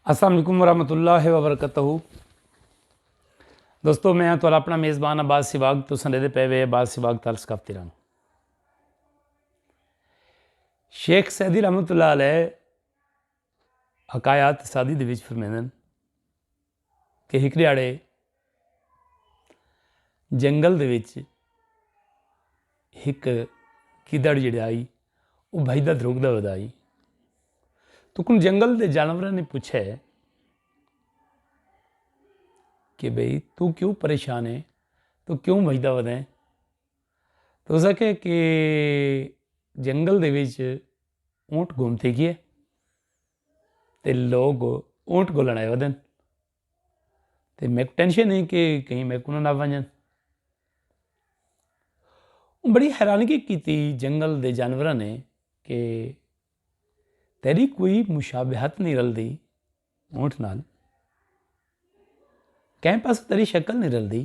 السلام علیکم ورحمۃ اللہ وبرکاتہ دوستو میں ہاں تو اپنا میزبان عباس سواگ تو سنے دے پے وے عباس سواگ ترس کفتی رنگ شیخ سیدی رحمۃ اللہ علیہ حکایات سادی دے وچ فرمیندن کہ ہک ݙیہاڑے جنگل دے وچ ہک گدڑ جیڑھا ہئی او بھڄدا دھرکدا ویندا ہئی۔ تکوں جنگل دے جانوراں نے پچھے کہ بھئی توں کیوں پریشان ہے توں کیوں بھڄدا ویندا ہے۔ تاں اوس آکھیا کہ جنگل دے وچ اونٹ گھمدے ڳئے۔ تے لوگ اونٹ گولݨ آئے ودن تے میں ٹینشن ہے کہ کہیں میں کوں نہ ونجن۔ بڑی حیرانگی کی تھی جنگل دے جانوراں نے کہ تیری کوئی مشابہت نہیں رل دی اونٹ نال کیمپس تیری شکل نہیں رل دی۔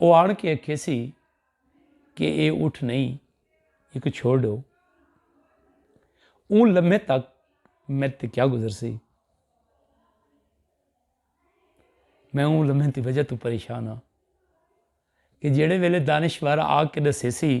او آن کے اکھیسی کہ اے اٹھ نئیں ایکوں چھوڑ ڈو۔ اوں لمحے تک میڈ تے کیا گزر سی۔ میں اوں لمحے دی وجہ توں پریشان ہاں کہ جیڑے ویلے دانشوار آ کے دسیسی۔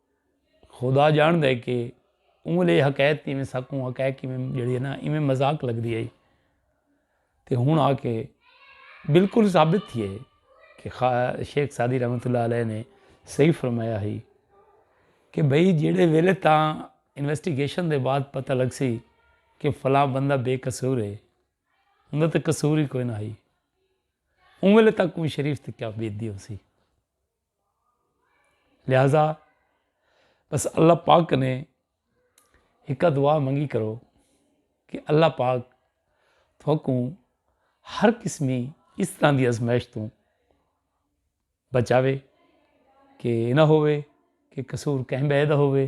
خدا جان دے کہ اوں لے حقیقت میں سکوں حقیقت میں جڑی ہے نا ایویں مذاق لگ دی ہے تے ہن آ کے بالکل ثابت تھی ہے کہ شیخ سادی رحمۃ اللہ علیہ نے صحیح فرمایا ہی کہ بھئی جیڑے ویلے تاں انویسٹیگیشن دے بعد پتہ لگ سی کہ فلاں بندہ بے قصور ہے انہوں تے قصور ہی کوئی نہ ہی اوں ویلے تک کوئی شریف تے کیا بیت دی ہو سی لہذا بس اللہ پاک کنے ہکا دعا منگی کرو کہ اللہ پاک تھوکوں ہر قسمی اس طرح دی ازمائش توں بچاوے کہ یہ نہ ہووے کہ قصور کہیں بہے دا ہووے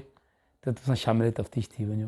تو تساں شامل تفتیش تھی ونجو۔